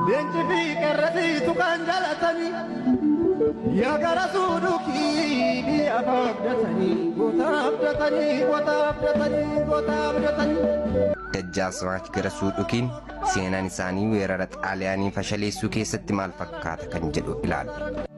Leenci fi qerrati tuqaan jalatanii yaa gara suudukii biyya afaa abdatanii goota abdatanii goota abdatanii goota abdatanii. Dajjaasmaach Garasuu Dhukiin seenaan isaanii weerara Xaaliyaanii fashaleessuu keessatti maal fakkaata kan jedhu ilaalla.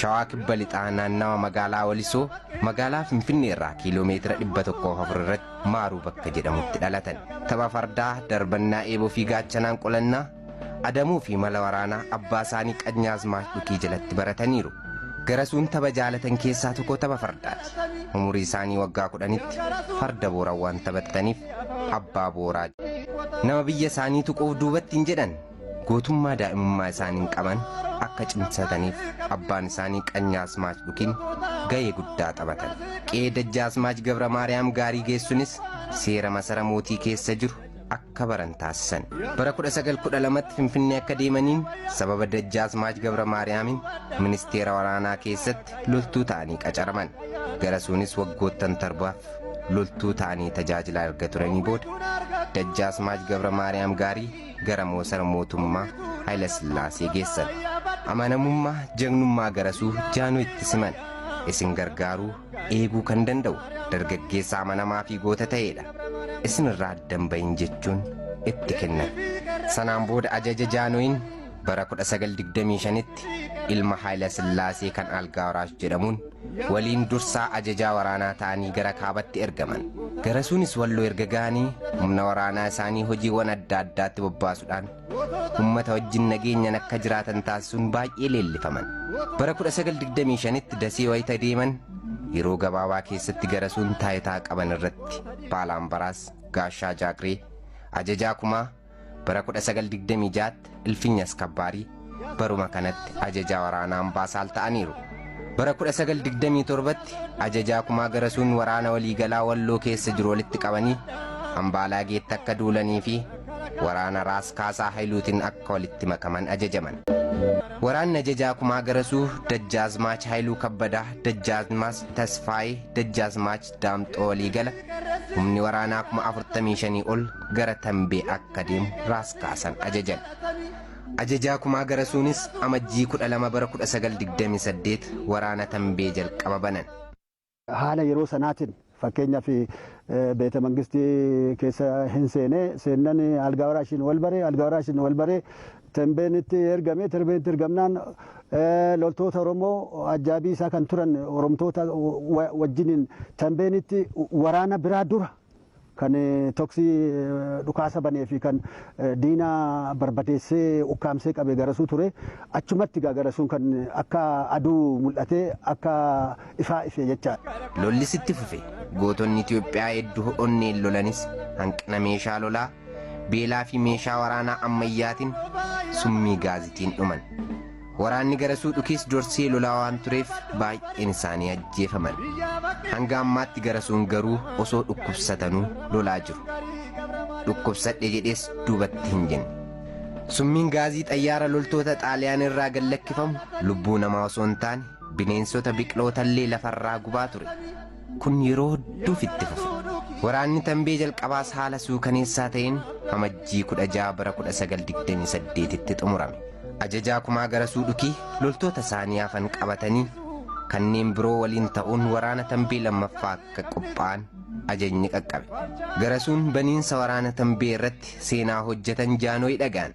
Shawaa Kibba Lixaa naannawa magaalaa Walisoo magaalaa Finfinnee irraa kiiloo meetira 104 irratti Maaruu bakka jedhamutti dhalatan. Tapha fardaa, darbannaa eeboo fi gaachanaan qolannaa, adamuu fi mala waraanaa abbaa isaanii Qanyaazmaach Dhukii jalatti barataniiru. Garasuun tapha jaalatan keessaa tokko tapha fardaati. Umurii isaanii waggaa kudhanitti farda booran waan taphataniif abbaa booraa jedhamu. Nama biyya isaanii tuquuf duubatti hin jedhan. gootummaa daa'imummaa isaaniin qaban akka cimsataniif abbaan isaanii Qanyaasmaach Dhukiin gahee guddaa taphatan. Qe'ee Dajjaasmaach Gabra Maariyaam Gaarii geessunis seera masara mootii keessa jiru akka baran taasisan. Bara 1912tti Finfinnee akka deemaniin sababa Dajjaasmaach Gabra Maariyaamiin ministeera waraanaa keessatti loltuu ta'anii qacaraman. Garasuunis waggoottan torbaaf loltuu ta'anii tajaajilaa erga turanii booda Dajjaasmaach Gabra Maariyaam Gaarii gara moosara mootummaa Hayila Sillaasee geessan. Amanamummaa jagnummaa garasuu Jaanoo itti siman. Isin gargaaruu, eeguu kan danda'u dargaggeessa amanamaa fi goota ta'eedha. Isin irraa addan bahin jechuun itti kennan. Sanaan booda ajaja Jaanoyin bara 1925tti ilma Hayila Sillaasee kan Algaa Waraash jedhamuun waliin dursaa ajajaa waraanaa ta'anii gara kaabatti ergaman. Garasuunis Walloo erga ga'anii humna waraanaa isaanii hojiiwwan adda addaatti bobbaasuudhaan ummata wajjin nageenyan akka jiraatan taasisuun baay'ee leellifaman. Bara 1925tti Dasee wayita deeman yeroo gabaabaa keessatti Garasuun taayitaa qaban irratti Baalaambaraas, Gaashaa Jaagiree, Ajajaa Kumaa, Bara 1926tti Ilfinya Askabbaarii baruma kanatti ajajaa waraanaa Ambaasaal ta'aniiru. Bara 1927tti ajajaa kumaa garasuun waraana waliigalaa Walloo keessa jiru walitti qabanii Ambaalaageetti akka duulanii fi waraana Raas Kaasaa Hayiluutiin akka walitti makaman ajajaman. Waraanni ajajaa kumaa garasuu Dajjaazmaach Hayiluu Kabbadaa, Dajjaazmaach Tasfaayee, Dajjaazmaach Daamxoo waliigala humni waraanaa kuma afurtamii shanii ol gara Tambee akka deemu Raas Kaasan ajajan. Ajajaa Kumaa Garasuunis Amajjii 12 bara 1928 waraana Tambee jalqaba banan. Haala yeroo sanaatiin fakkeenyaaf beeta mangistii keessa hin seene seennan algaa waraashiin wal bare algaa waraashiin wal bare Tenbeenitti ergame. Tenbeenitti ergamnaan loltoota Oromoo ajjaabii isaa kan turan Oromtoota wajjiniin Tenbeenitti waraana biraa dura kan toksii dhukaasa banee fi kan diina barbadeessee ukkaamsee qabe garasuu ture. Achumatti egaa garasuun kan akka aduu mul'atee akka ifaa ife jechaadha. Lollis itti fufe. Gootonni Itoophiyaa hedduu onneen lolanis hanqina meeshaa lolaa, beelaa fi meeshaa waraanaa ammayyaatiin summii gaazitiin dhuman. Waraanni garasuu dhukiis dorsee lolaa waan tureef baay'een isaanii ajjeefaman. Hanga ammaatti garasuun garuu osoo dhukkubsatanuu lolaa jiru. Dhukkubsadhe jedhees duubatti hin jenne. Summiin gaazii xayyaara loltoota xaaliyaan irraa gad lakkifamu lubbuu namaa osoo hin taane bineensota biqilootallee lafarraa gubaa ture. Kun yeroo hedduuf itti fufe. Waraanni Tambee jalqabaas haala suukaneessaa ta'een Amajjii 16 bara 1928tti xumurame. Ajajaa Kumaa Garasuu Dhukii loltoota isaanii hafan qabatanii kanneen biroo waliin ta'uun waraana Tambee lammaffaa akka qophaa'an ajajni qaqqabe. Garasuun baniinsa waraana Tambee irratti seenaa hojjetan Jaanooy dhaga'an.